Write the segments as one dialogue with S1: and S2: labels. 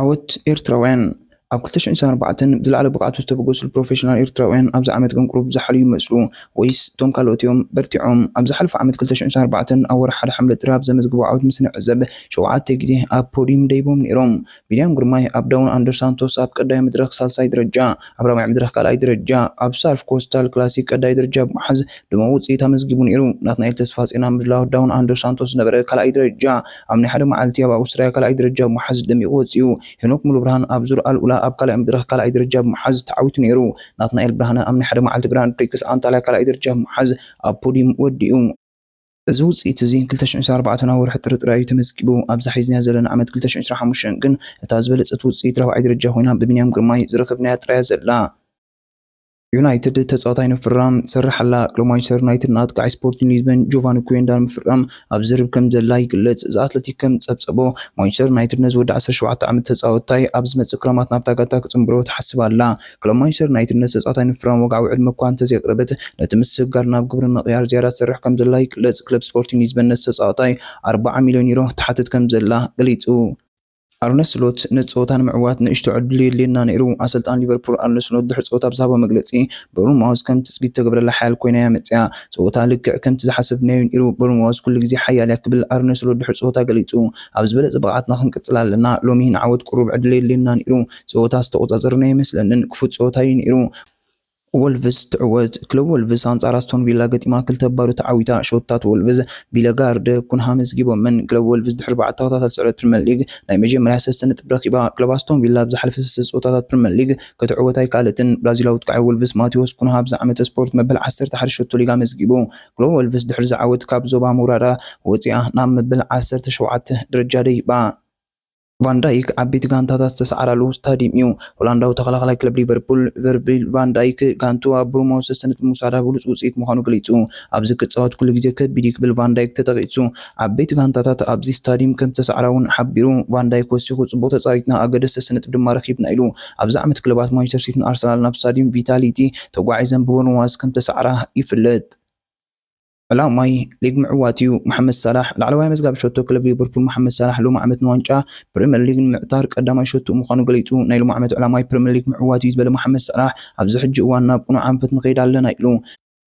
S1: ዓወት ኤርትራውያን! ኣብ ክልተ ሽሕን ዕስራን ኣርባዕተን ብዝለዓለ ብቕዓት ዝተበገሱሉ ፕሮፌሽናል ኤርትራውያን ኣብዚ ዓመት ግን ቁሩብ ዝሓልዩ ይመስሉ ወይስ እቶም ካልኦት'ዮም በርቲዖም? ኣብ ዝሓለፈ ዓመት ክልተ ሽሕን ዕስራን ኣርባዕተን ኣብ ወርሒ ሓደ ሓምለ ጥሪ ኣብ ዘመዝገቦ ዓወት ምስ ንዕዘብ ሸውዓተ ግዜ ኣብ ፖድዩም ደይቦም ነይሮም። ቢንያም ግርማይ ኣብ ዳውን ኣንደር ሳንቶስ ኣብ ቀዳይ መድረኽ ሳልሳይ ደረጃ፣ ኣብ ራብዓይ መድረኽ ካልኣይ ደረጃ፣ ኣብ ሳርፍ ኮስታል ክላሲክ ቀዳይ ደረጃ ብምሓዝ ድሙቕ ውጽኢት ኣመዝጊቡ ነይሩ። ናትናኤል ተስፋጼን ኣብ ምድላዋት ዳውን ኣንደር ሳንቶስ ዝነበረ ካልኣይ ደረጃ፣ ኣብ ናይ ሓደ መዓልቲ ኣብ ኣውስትራያ ካልኣይ ደረጃ ብምሓዝ ደሚቑ ወጺኡ። ሄኖክ ሙሉብርሃን ኣብ ዙር ኣልኡላ ኣብ ካልኣይ መድረኽ ካልኣይ ደረጃ ብምሓዝ ተዓዊቱ ነይሩ። ናትናኤል ብርሃነ ኣብ ናይ ሓደ መዓልቲ ግራንድ ፕሪክስ ኣንታልያ ካልኣይ ደረጃ ብምሓዝ ኣብ ፖድዩም ወዲኡ። እዚ ውጽኢት እዚ ክልተ ሽሕን ዕስራን ኣርባዕተን ኣብ ወርሒ ጥሪ ጥራይ እዩ ተመዝጊቡ። ኣብዛ ሒዝናያ ዘለና ዓመት ክልተ ሽሕን ዕስራን ሓሙሽተን ግን እታ ዝበለጸት ውጽኢት ራብዓይ ደረጃ ኮይና ብቢንያም ግርማይ ዝረከብናያ ጥራይ እያ ዘላ። ዩናይትድ ተጻዋታይ ንምፍራም ትሰርሕ ኣላ። ቅድሚ ማንቸስተር ዩናይትድ ንኣጥቃዓይ ስፖርቲን ሊዝበን ጆቫኒ ኩዌንዳ ንምፍራም ኣብ ዝርርብ ከም ዘላ ይግለጽ። ዘ ኣትለቲክ ከም ዝጸብጸቦ፣ ማንቸስተር ዩናይትድ ነዚ ወዲ ዓሰርተ ሸውዓተ ዓመት ተጻወታይ ኣብ ዝመጽእ ክራማት ናብታ ጋንታ ክጽንብሮ ትሓስብ ኣላ። ክለብ ማንቸስተር ዩናይትድ ነቲ ተጻዋታይ ንምፍራም ወግዓዊ ዕድመ እኳ እንተዘይኣቕረበት፣ ነቲ ምስግጋር ናብ ግብሪ ንምቕያር ዝያዳ ትሰርሕ ከምዘላ ይግለጽ። ክለብ ስፖርቲንግ ሊዝበን ነቲ ተጻዋታይ ኣርብዓ ሚልዮን ዩሮ ትሓትት ከምዘላ ገሊጹ። ኣርነ ስሎት፣ ነቲ ጸወታ ንምዕዋት ንእሽቶ ዕድል የድልየና ነይሩ። ኣሰልጣኒ ሊቨርፑል ኣርነ ስሎት ድሕሪ ጸወታ ኣብ ዝሃቦ መግለጺ፣ ቦርንማውዝ ከም ትጽቢት እተገብረላ ሓያል ኰይና'ያ መጺኣ። ጸወታ ልክዕ ከምቲ ዝሓሰብናዮ ነይሩ፣ ቦርንማውዝ ኩሉ ግዜ ሓያል'ያ ክብል ኣርነ ስሎት ድሕሪ ጸወታ ገሊጹ። ኣብ ዝበለጸ ብቕዓትና ክንቅጽል ኣለና። ሎሚ ንዓወት ቅሩብ ዕድል የድልየና ነይሩ። ጸወታ ዝተቖጻጸርና ኣይመስለንን፣ ክፉት ጸወታ እዩ ነይሩ። ወልቭስ ትዕወት። ክለብ ወልቭስ ኣንጻር ኣስቶን ቪላ ገጢማ ክልተ ባዶ ተዓዊታ። ሸቶታት ወልቭስ ቢለጋርድ፣ ኩንሃ መዝጊቦመን። ክለብ ወልቭስ ድሕሪ ኣርባዕተ ተኸታታሊ ስዕረት ፕሪመር ሊግ ናይ መጀመርያ ሰስተ ነጥቢ ረኺባ። ክለብ ኣስቶን ቪላ ኣብ ዝሓለፈ ሰስተ ጸወታታት ፕሪመር ሊግ ክትዕወት ኣይከኣለትን። ብራዚላዊ ኣጥቃዒ ወልቭስ ማቲዎስ ኩንሃ ኣብዚ ዓመተ ስፖርት መበል ዓሰርተ ሓደ ሸቶ ሊግ ኣመዝጊቡ። ክለብ ወልቭስ ድሕሪ'ዚ ዓወት ካብ ዞባ ምውራዳ ወጺኣ ናብ መበል ዓሰርተ ሸውዓተ ደረጃ ደይባ። ቫን ዳይክ ዓበይቲ ጋንታታት ዝተሰዓራሉ ስታድዩም እዩ። ሆላንዳዊ ተኸላኻላይ ክለብ ሊቨርፑል ቨርጂል ቫን ዳይክ ጋንትኡ ኣብ ብሩሞ ሰሰነት ብምውሳዳ ብሉጽ ውጽኢት ምዃኑ ገሊጹ። ኣብዚ ክጻወት ኩሉ ግዜ ከቢድ'ዩ ክብል ቫን ዳይክ ተጠቒሱ። ዓበይቲ ጋንታታት ኣብዚ ስታድዩም ከም ዝተሰዓራ'ውን ሓቢሩ። ቫን ዳይክ ወሲኹ ጽቡቕ ተጻዊትና ኣገደስቲ ሰሰነጥብ ድማ ረኺብና ኢሉ። ኣብዚ ዓመት ክለባት ማንቸስተር ሲቲን ኣርሰናልን ኣብ ስታድዩም ቪታሊቲ ተጓዒዘን ብበርንማውዝ ከም ዝተሰዓራ ይፍለጥ። ዕላማይ ሊግ ምዕዋት'ዩ፣ መሓመድ ሳላሕ። ላዕለዋይ ኣመዝጋቢ ሸቶ ክለብ ሊቨርፑል መሓመድ ሳላሕ ሎሚ ዓመት ንዋንጫ ፕሪመር ሊግ ንምዕታር ቀዳማይ ሸቶኡ ምዃኑ ገሊጹ። ናይ ሎሚ ዓመት ዕላማይ ፕሪመር ሊግ ምዕዋት'ዩ ዝበለ መሓመድ ሳላሕ፣ ኣብዚ ሕጂ እዋን ናብ ቅኑዕ ኣንፈት ንኸይድ ኣለና ኢሉ።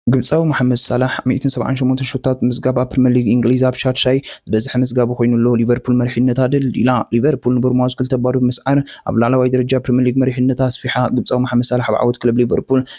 S1: ግብጻዊ መሓመድ ሳላሕ ሚእትን ሰብዓን ሸሞንተን ሸቶታት ብምምዝጋብ ኣብ ፕሪመር ሊግ እንግሊዝ ኣብ ሻድሻይ ዝበዝሐ መዝጋቢ ኮይኑ ኣሎ። ሊቨርፑል መሪሕነታ ደልዲላ። ሊቨርፑል ንቦርንማውዝ ክልተ ባዶ ብምስዓር ኣብ ላዕለዋይ ደረጃ ፕሪመር ሊግ መሪሕነታ ኣስፊሓ። ግብጻዊ መሓመድ ሳላሕ ኣብ ዓወት ክለብ ሊቨርፑል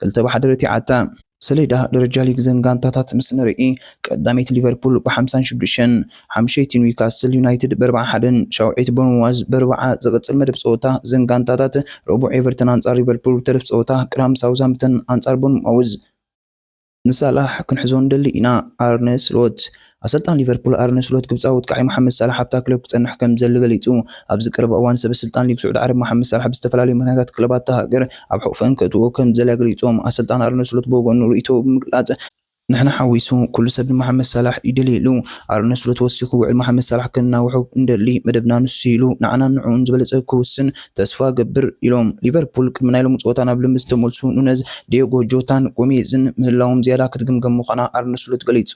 S1: ክልተ ብሓደ ረቲዓታ። ሰሌዳ ደረጃ ሊግ እዘን ጋንታታት ምስ ንርኢ፣ ቀዳመይቲ ሊቨርፑል ብሓምሳን ሽዱሽተን፣ ሓምሸይቲ ኒውካስል ዩናይትድ ብኣርብዓን ሓደን፣ ሻውዐይቲ ቦርንማዝ ብኣርብዓ፣ ዝቕጽል መደብ ጸወታ እዘን ጋንታታት፣ ረቡዕ ኤቨርተን ኣንጻር ሊቨርፑል ብተረፍ ጸወታ፣ ቅዳም ሳውዝሃምፕተን ኣንጻር ቦርንማውዝ። ንሳላሕ ክንሕዞ ንደሊ ኢና፣ ኣርነ ስሎት። ኣሰልጣኒ ሊቨርፑል ኣርነ ስሎት ግብጻዊ ወጥቃዒ ሞሓመድ ሳላሕ ኣብታ ክለብ ክጸንሕ ከምዝደሊ ገሊጹ። ኣብዚ ቀረባ እዋን ሰበ ስልጣን ሊግ ስዑዲ ዓረብ ሞሓመድ ሳላሕ ብዝተፈላለዩ ምኽንያታት ክለባት እታ ሃገር ኣብ ሕቝፈን ከእትውኦ ከምዝደልያ ገሊጾም። ኣሰልጣኒ ኣርነ ስሎት ብወገኑ ርእይቶኡ ብምግላጽ፣ ንሕና ሓዊሱ ኩሉ ሰብ ንሞሓመድ ሳላሕ ይደልዮ ኢሉ። ኣርነ ስሎት ወሲኹ ውዕል ሞሓመድ ሳላሕ ከናውሖ እንደሊ መደብና ንሱ'ዩ ኢሉ፣ ንዓናን ንዕኡን ዝበለጸ ክውስን ተስፋ እገብር ኢሎም። ሊቨርፑል ቅድሚ ናይ ሎሚ ጸወታ ናብ ልምምድ ዝተመልሱ ኑነዝ፣ ዲየጎ ጆታን ጎሜዝን ምህላዎም ዝያዳ ክትግምገም ምዃና ኣርነ ስሎት ገሊጹ።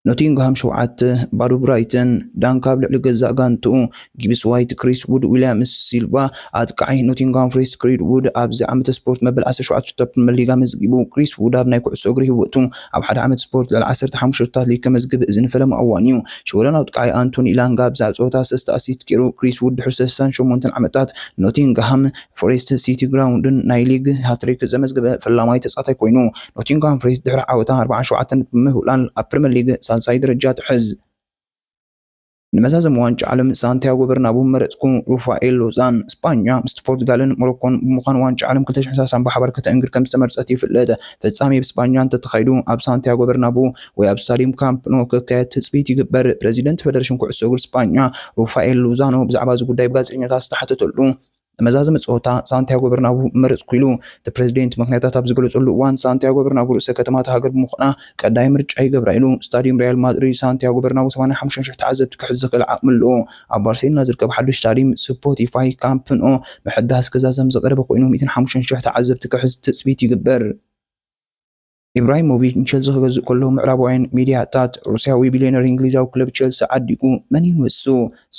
S1: ኖቲንግሃም ሸውዓተ፣ ባዶ ብራይተን፣ ዳንክ ኣብ ልዕሊ ገዛእ ጋንትኡ፣ ጊብስ ዋይት፣ ክሪስ ዉድ፣ ዊልያምስ፣ ሲልቫ፣ ኣጥቃዓይ ኖቲንግሃም ፎሬስት ክሪድ ዉድ ኣብዚ ዓመተ ስፖርት መበል ዓሰርተ ሸውዓተ ጸወታ ፕሪመር ሊግ ኣመዝጊቡ። ክሪስ ዉድ ኣብ ናይ ኩዕሶ እግሪ ህይወቱ፣ ኣብ ሓደ ዓመት ስፖርት ልዕሊ ዓሰርተ ሓሙሽተ ሸቶታት ሊግ ከመዝግብ እዚ ንፈለማ እዋኑ'ዩ። ሽወደናዊ ኣጥቃዓይ ኣንቶኒ ኢላንጋ ኣብዛ ጸወታ ሰለስተ ኣሲስት ጌሩ። ክሪስ ዉድ ድሕሪ ሰሰሳን ሸሞንተን ዓመታት ንኖቲንግሃም ፎሬስትን ሲቲ ግራዉንድን ናይ ሊግ ሃትሪክ ዘመዝገበ ፈላማይ ተጻዋታይ ኮይኑ። ኖቲንግሃም ፎሬስት ድሕሪ ዓወታ ኣርብዓን ሸውዓተን ነጥቢ ብምውዕላል ኣብ ፕሪመር ሊግ ሳልሳይ ደረጃ ትሕዝ። ንመዛዘሚ ዋንጫ ዓለም ሳንቲያጎ በርናቡ መረጽኩ። ሩፋኤል ሎዛን፣ ስጳኛ ምስቲ ፖርቱጋልን ሞሮኮን ብምዃን ዋንጫ ዓለም ክልተ ሽሕን ሰላሳን ብሓባር ከተእንግድ ከምዝተመርጸት ይፍለጥ። ፍጻሜ ብ ስጳኛ እንተተኻይዱ ኣብ ሳንቲያጎ በርናቡ ወይ ኣብ ስታድዩም ካምፕ ኖ ክካየድ ትጽቢት ይግበር። ፕረዚደንት ፈደረሽን ኩዕሶ እግሪ ስጳኛ ሩፋኤል ሎዛኖ ብዛዕባ እዚ ጉዳይ ብጋዜጠኛታት ዝተሓተተሉ፣ ንመዛዘሚ ጸወታ ሳንቲያጎ በርናቡ ምመረጽኩ ኢሉ እቲ ፕረዚደንት ምኽንያታት ኣብ ዝገለጸሉ እዋን፣ ሳንቲያጎ በርናቡ ርእሰ ከተማ እታ ሃገር ብምዃና ቀዳይ ምርጫ ይገብራ ኢሉ። ስታድዩም ሪያል ማድሪድ ሳንቲያጎ በርናቡ ሰማንያ ሓሙሽተ ሽሕ ተዓዘብቲ ክሕዝ ዝኽእል ዓቕሚ ኣለዎ። ኣብ ባርሴሎና ዝርከብ ሓድሽ ስታድዩም ስፖቲፋይ ካምፕ ኖ ምሕዳስ ክዛዘም ዝቐረበ ኮይኑ፣ ሚእትን ሓሙሽተን ሽሕ ተዓዘብቲ ክሕዝ ትጽቢት ይግበር። ኢብራሂሞቪች ንቸልሲ ክገዝእ ከሎ ምዕራባውያን ሚድያታት ሩስያዊ ቢልዮነር እንግሊዛዊ ክለብ ቸልሲ ዓዲጉ መን'ዩ ንሱ?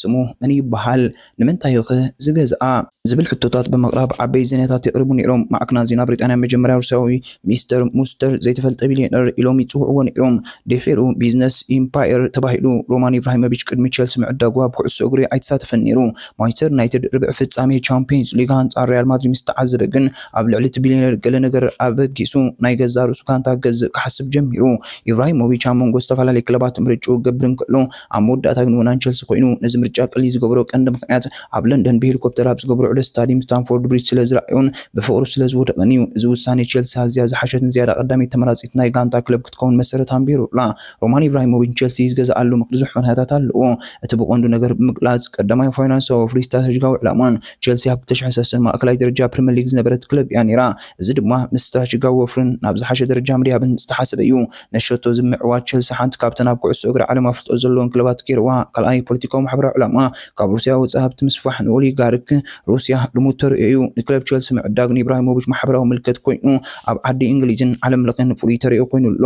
S1: ስሙ መን ይበሃል? ንምንታይ'ኸ ዝገዝኣ? ዝብል ሕቶታት ብምቕራብ ዓበይቲ ዜናታት የቕርቡ ነይሮም። ማዕከናት ዜና ብሪጣንያ መጀመርያ ሩስያዊ ሚስተር ሙስተር፣ ዘይተፈልጠ ቢልዮነር፣ ኢሎም ይጽውዕዎ ነይሮም። ድሒሩ ቢዝነስ ኢምፓየር ተባሂሉ። ሮማን ኢብራሂሞቪች ቅድሚ ቸልሲ ምዕዳጉ ኣብ ኩዕሶ እግሪ ኣይተሳተፈን ነይሩ። ማንቸስተር ዩናይትድ ርብዒ ፍጻሜ ቻምፕዮንስ ሊግ ኣንጻር ሪያል ማድሪድ ምስ ተዓዘበ ግን ኣብ ልዕሊ እቲ ቢልየነር ገለ ነገር ኣበጊሱ ናይ ገዛእ ርእሱ ጋንታ ክገዝእ ክሓስብ ጀሚሩ። ኢብራሂሞቪች ኣብ መንጎ ዝተፈላለየ ክለባት ምርጫኡ ክገብር እንከሎ፣ ኣብ መወዳእታ ግን ወናን ቸልሲ ኮይኑ። ነዚ ምርጫ ቀሊል ዝገበሮ ቀንዲ ምኽንያት ኣብ ለንደን ብሄሊኮፕተር ኣብ ዝገበሮ ዑደት ስታድዩም ስታምፎርድ ብሪጅ ስለ ዝረኣዮን ብፍቕሩ ስለ ዝወደቐን እዩ። እዚ ውሳኔ ቸልሲ ኣዝያ ዝሓሸትን ዝያዳ ቀዳመይቲ ተመራጺት ናይ ጋንታ ክለብ ክትከውን መሰረት ኣንቢሩላ። ሮማን ኢብራሂሞቪች ቸልሲ ዝገዝኣሉ ብዙሕ ምኽንያታት ኣለዎ። እቲ ብቐንዱ ነገር ብምግላጽ፣ ቀዳማይ ፋይናንሳዊ ወፍሪ ስትራተጂካዊ ዕላማን። ቸልሲ ኣብ ክልተ ሽሕን ሰለስተን ማእከላይ ደረጃ ፕሪመር ሊግ ዝነበረት ክለብ እያ ነይራ፣ እዚ ድማ ምስ ስትራተጂካዊ ወፍርን ናብ ዝሓሸ ደረጃ ምድያብን ዝተሓሰበ እዩ። ነቲ ሸቶ እዚ ብምዕዋት ቸልሲ ሓንቲ ካብተን ኣብ ኩዕሶ እግሪ ዓለም ኣፍልጦ ዘለወን ክለባት ገይርዋ። ካልኣይ ፖለቲካዊ ማሕበራዊ ዕላማ። ካብ ሩስያ ወጻኢ ሃብቲ ምስፋሕ ንኦሊጋርክ ሩስያ ልሙድ ተርእዮ'ዩ። ንክለብ ቸልሲ ምዕዳግ ንኢብራሂሞቪች ማሕበራዊ ምልከት ኮይኑ ኣብ ዓዲ እንግሊዝን ዓለምለኸን ፍሉይ ተርእዮ ኮይኑ ኣሎ።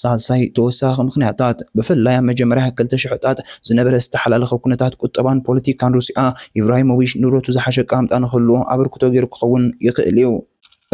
S1: ሳልሳይ ተወሳኺ ምኽንያታት፣ ብፍላይ ኣብ መጀመርያ ክልተ ሽሕታት ዝነበረ ዝተሓላለኸ ኩነታት ቁጠባን ፖለቲካን ሩስያ፣ ኢብራሂሞቪች ንብረቱ ዝሓሸ ኣቀማምጣ ንኽህልዎ ኣበርክቶ ገይሩ ክኸውን ይኽእል'ዩ።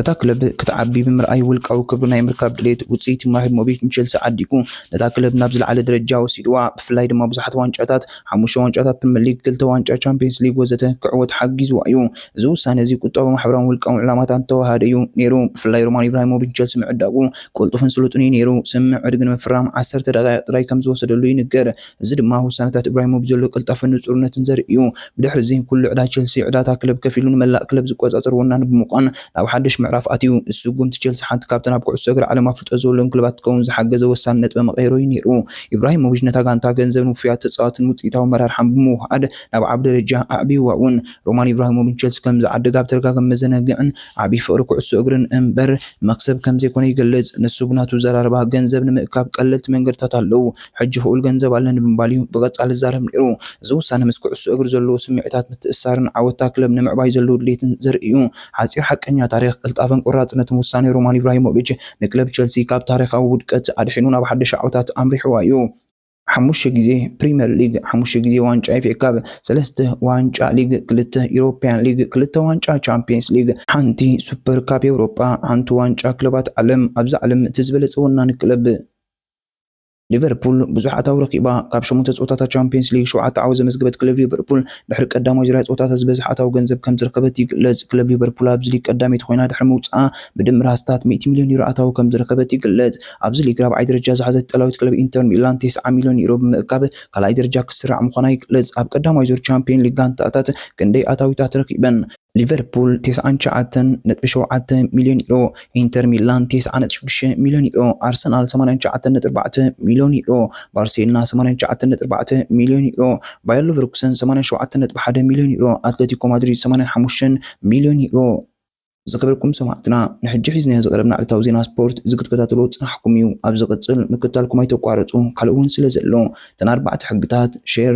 S1: እታ ክለብ ክትዓቢ ብምርኣይ ውልቃዊ ክብሪ ናይ ምርካብ ድሌት፣ ውጽኢት ኢብራሂሞቪች ንቸልሲ ዓዲጉ ነታ ክለብ ናብ ዝለዓለ ደረጃ ወሲድዋ። ብፍላይ ድማ ብዙሓት ዋንጫታት፣ ሓሙሽተ ዋንጫታት ፕሪመር ሊግ፣ ክልተ ዋንጫ ቻምፕዮንስ ሊግ ወዘተ፣ ክዕወት ሓጊዝዋ እዩ። እዚ ውሳነ እዚ ቁጠባዊ፣ ማሕበራውን ውልቃውን ዕላማታት ዝተወሃሃደ እዩ ነይሩ። ብፍላይ ሮማን ኢብራሂሞቪች ንቸልሲ ምዕዳጉ ቅልጡፍን ስሉጥን እዩ ነይሩ። ስምምዕ ዕድጊ ንምፍራም ዓሰርተ ደቓይቕ ጥራይ ከም ዝወሰደሉ ይንገር። እዚ ድማ ውሳነታት እብራሂሞቭ ዘሎ ቅልጣፈን ንጹርነትን ዘርኢ እዩ። ብድሕሪ'ዚ ኩሉ ዕዳ ቸልሲ፣ ዕዳ'ታ ክለብ ከፍ ኢሉ ንመላእ ክለብ ዝቆጻጸር ወናኒ ብምዃን ናብ ሓድሽ ምዕራፍ ኣትዩ። ንስጉምቲ ቸልሲ ሓንቲ ካብተን ኣብ ኩዕሶ እግሪ ዓለም ኣፍልጦ ዝወሎን ክለባት ክትከውን ዝሓገዘ ወሳኒ ነጥበ መቐይሮ እዩ ነይሩ። ኢብራሂሞቪች ነታ ጋንታ ገንዘብን ውፉያት ተጻወትን ውጽኢታዊ ኣመራርሓን ብምውሃሃድ ናብ ዓቢ ደረጃ ኣዕብይዋ እውን። ሮማን ኢብራሂሞቪች ቸልሲ ከም ዝዓደገ ኣብ ተደጋጋሚ መዘናግዕን ዓቢ ፍቕሪ ኩዕሶ እግርን እምበር ንመኽሰብ ከም ዘይኮነ ይገልጽ። ንሱ ብናቱ ኣዘራርባ፣ ገንዘብ ንምእካብ ቀለልቲ መንገድታት ኣለዉ። ሕጂ ክኡል ገንዘብ ኣለኒ ብምባል'ዩ ብቐጻሊ ዝዛረብ ነይሩ። እዚ ውሳነ ምስ ኩዕሶ እግሪ ዘለዎ ስምዒታት ምትእስሳርን ዓወት'ታ ክለብ ንምዕባይ ዘለዎ ድሌትን ዘርኢ'ዩ። ሓጺር ሓቀኛ ታሪኽ ቅልጣፈን ቆራጽነትን ውሳኔ ሮማን ኢብራሂሞቪች ንክለብ ቸልሲ ካብ ታሪኻዊ ውድቀት ኣድሒኑ ናብ ሓደሽ ዓወታት ኣምሪሕዋ'ዩ። ሓሙሽተ ግዜ ፕሪመር ሊግ፣ ሓሙሽተ ግዜ ዋንጫ ኤፍኤ ካፕ፣ ሰለስተ ዋንጫ ሊግ፣ ክልተ ዩሮፕያን ሊግ፣ ክልተ ዋንጫ ቻምፕየንስ ሊግ፣ ሓንቲ ሱፐር ካፕ ኤውሮጳ፣ ሓንቲ ዋንጫ ክለባት ዓለም፣ ኣብዛ ዓለም እቲ ዝበለጸ ወናኒ ክለብ፣ ሊቨርፑል ብዙሕ ኣታዊ ረኺባ። ካብ ሸሞንተ ጸወታታት ቻምፕዮንስ ሊግ ሸውዓተ ዓወት ዘመዝገበት ክለብ ሊቨርፑል፣ ድሕሪ ቀዳማይ ዙርያ ጸወታታት ዝበዝሐ ኣታዊ ገንዘብ ከምዝረኸበት ይግለጽ። ክለብ ሊቨርፑል ኣብዚ ሊግ ቀዳመይቲ ኮይና ድሕሪ ምውጽኣ፣ ብድምር ኣስታት ሚእቲ ሚልዮን ዩሮ ኣታዊ ከምዝረኸበት ይግለጽ። ኣብዚ ሊግ ራብዓይ ደረጃ ዝሓዘት ኢጣልያዊት ክለብ ኢንተር ሚላን ተስዓ ሚልዮን ዩሮ ብምእካብ ካልኣይ ደረጃ ክትስራዕ ምዃና ይግለጽ። ኣብ ቀዳማይ ዙር ቻምፕዮን ሊግ ጋንታታት ክንደይ ኣታዊታት ረኺበን? ሊቨርፑል ቴስዓን ትሽዓተን ነጥቢ ሸውዓተ ሚልዮን ዩሮ፣ ኢንተር ሚላን ቴስዓ ነጥቢ ሽዱሽተ ሚልዮን ዩሮ፣ ኣርሰናል ሰማንያን ትሽዓተን ነጥቢ ኣርባዕተ ሚልዮን ዩሮ፣ ባርሴሎና ሰማንያን ትሽዓተን ነጥቢ ኣርባዕተ ሚልዮን ዩሮ፣ ባየር ሉቨርኩሰን ሰማንያን ሸውዓተን ነጥቢ ሓደ ሚልዮን ዩሮ፣ ኣትለቲኮ ማድሪድ ሰማንያን ሓሙሽተን ሚልዮን ዩሮ። ዝከበርኩም ሰማዕትና ንሕጂ ሒዝናዮ ዝቀረብና ዕለታዊ ዜና ስፖርት እዚ ክትከታተልዎ ዝጸናሕኩም እዩ ኣብ ዝቅጽል ምክትታልኩም ኣይተቋርጹ ካልእ ውን ስለ ዘሎ እተን ኣርባዕተ ሕግታት ሼር